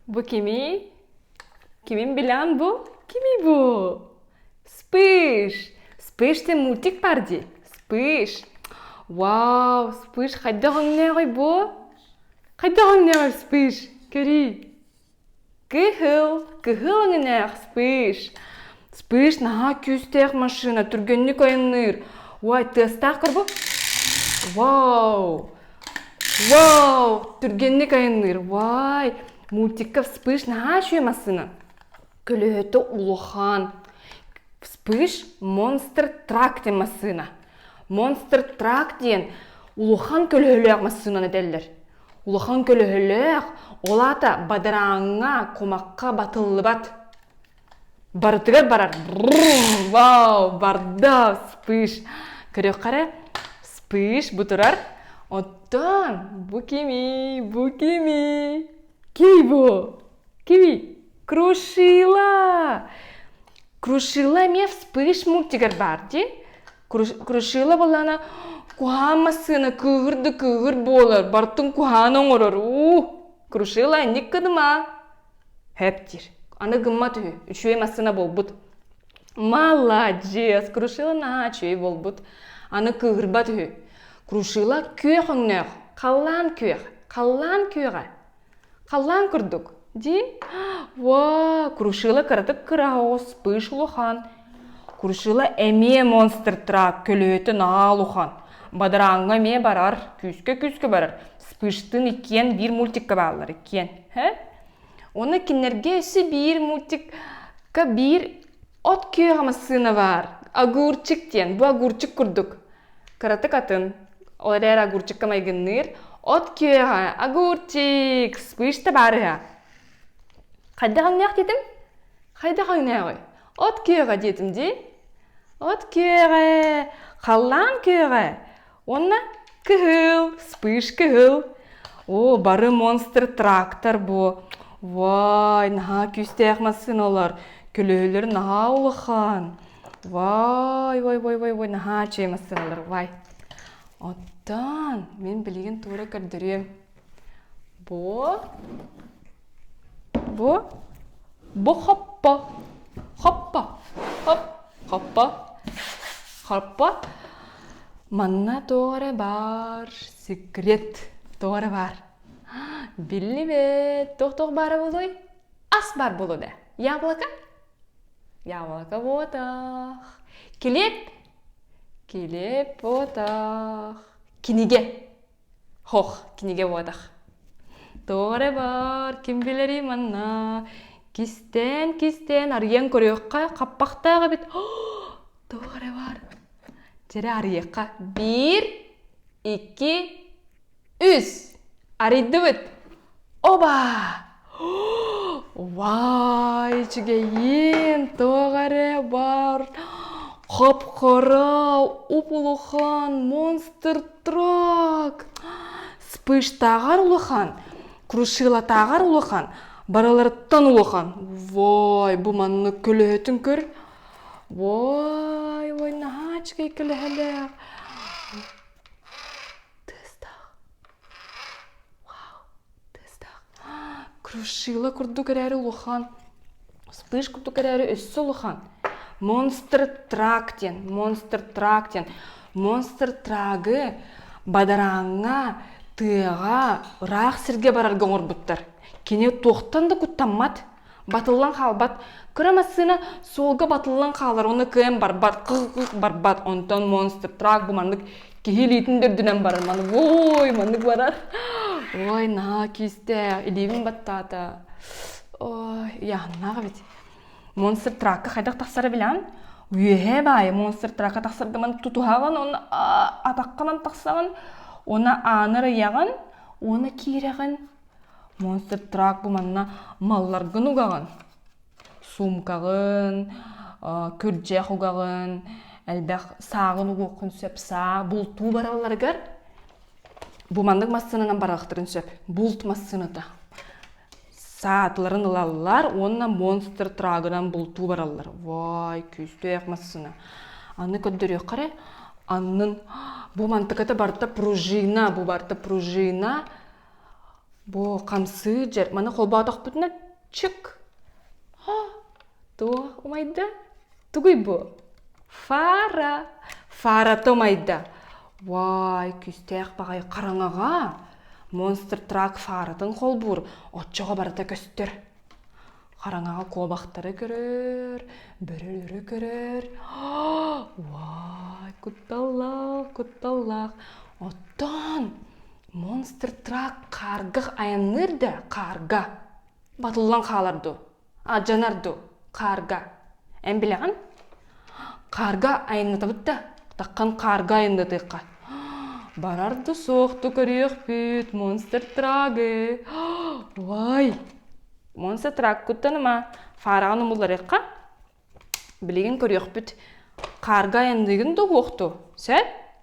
Bu кимий? Кимин билан бу? Кимий бу? Вспыш! Вспыш ты мультик парди? Вспыш! Вау, Вспыш хайдах өҥнөөҕүй бу? Хайдах өҥнөөҕүй Вспыш? Көрүй. Кыһыл, кыһыл өҥнөөх Вспыш. Вспыш наһаа күүстээх машина, түргэнник ойуннуур. Ой, тыастаах кур бу. Вау! вау түргэнник айанныыр вай мультикка вспыш наһаа үчүгэй массыына көлөһөтө улахан вспыш монстр трак диэн массыына монстр трак диэн улахан көлөһөлөөх массыынаны этэллэр улахан көлөһөлөөх ол аата бадарааҥҥа кумахха батыллыбат барытыгар барар вау барда вспыш көрүөххэ эрэ вспыш бу турар оттон бу кими бу кими кий бу кими крушила крушила эмиэ вспыш мультигар баар дии крушила буоллаҕына куһаан массыына кыыһыр да кыыһыр буолар бартын куһаан оҥорор уу крушила инник кыдыма Һэп диир. Аны гыммат үһү. Үчүгэй массыына буолбут. Маладец! Крушила на үчүгэй буолбут. Аны кыыһырбат үһү. Крушила күөх өҥнөөх. Халлаан күөх. Халлаан күөҕэ. Халлаан курдук. Дии. Во, крушила кыратык кыраһоҕос, пыш улахан. Куршила эмиэ монстр трак көлүөтүн аал ухан, бадарааҥҥа эмиэ барар, күүскэ-күүскэ барар, Спыштын иккиэн биир мультикка бааллар иккиэн. Һэ? Уонна кинилэргэ өссө биир мультикка биир от күөҕэ массыына баар. Огурчик диэн. Бу огурчик курдук. Кыратык атын. Ол эрээри огурчикка майгынныыр. От күөҕэ, огурчик, спышта баар үһэ. Хайдах өҥнөөх диэтим? Хайдах өҥнөөҕүй? от күөҕэ диэтим дии от күөҕэ халлаан күөҕэ уонна кыһыл вспыш кыһыл оо бары монстр трактор буо вай наһаа күүстээх массыына олор көлөһөлөр наһаа улахан вай вай вай вай вай наһаа үчүгэй массыына олор вай оттон мин билигин туора көрдөрүөм бо бо бо хоппо хоппо хоп хоппо хоппо манна туора баар секрет туора баар биллибэт туох туох баара буолуой ас баар буолуо да яблоко яблоко ботах килиэп килиэп ботах кинигэ Һох, кинигэ буотах. Тоҕоре бар, ким билэрий манна? Кистээн, кистээн арыйан көрүөххэ, хаппахтаах эбит. Тоҕоре бар. Дьэрэ арыйыахха. Биир, икки, үс. Арыйдыбыт. Оба! Вай, үчүгэйин тоҕо эрэ бар хоп-хоро уп-улахан монстр трак вспыштааҕар улахан крушилатааҕар улахан барыларыттан улахан вой бу маннык көлөһүтүн көр вой ой наһаа үчүгэй көлөһөлөөх тыастаах крушила курдук эрээри улахан вспыш курдук эрээри өссө улахан монстр трак диэн монстр трак диэн монстр трагы бадарааҥҥа тыаҕа ыраах сиргэ барарга оҥорбуттар кини туохтан да куттаммат Батыллан хаалбат. Кыра массыына суолга батыллан хаалар уонна кыайан барбат, кыл-кыл барбат. Онтон монстр, трак бу маннык киһи илиитин да үрдүнэн барар. Маннык ой, маннык барар. Ой, наа кистэй, илиибин баттаата. Ой, яханнаах эбит. Монстр тракка хайдах тахсара билан? Үөһэ баайы монстр тракка тахсардаман тутуһаҕын, онно атахханан тахсаҕын, оны аанар ыйаҕын, оны киирэҕин, Монстр-трак бу манна малларгын угаҕын, суумкаҕын, күрдьэх угаҕын, элбэх сааҕын угуоххун сөп, саа, бултуу баралларыгар бу маннык массыынанан барыахтарын сөп. Булт массыыната. Саатыларын ылаллар уонна монстр-трагынан бултуу бараллар. Вай, күүстээх массыына. Аны көрдөрүөххэ эрэ, аннын бу мантыката барыта пружина, бу барыта пружина бу хамсыыр маны холбоотохпутуна чык туох умайда тугуй бу фара фарата умайда вай күүстээх баҕайы хараҥаҕа монстр трак фаратын холбуур оччоҕо барыта көстөр хараҥаҕа куобахтары көрөр, бөрөлөрү көрөр. Уай, кутталлаах, кутталлаах. Оттон монстр трак хааргах айанныыр да хаарга батыллан хаалар дуу, алдьанар дуу хаарга. Эн билэҕин? Хаарга айаннатабыт да, таххан хаарга айаннатыахха. Барар да суохту көрүөхпүт, Монстр Трагы. Уай! Монстр Трагкуттан ама фараҕын умулларыахха. Билигин көрүөхпүт, хаарга айанныыгын да уохту, сөп?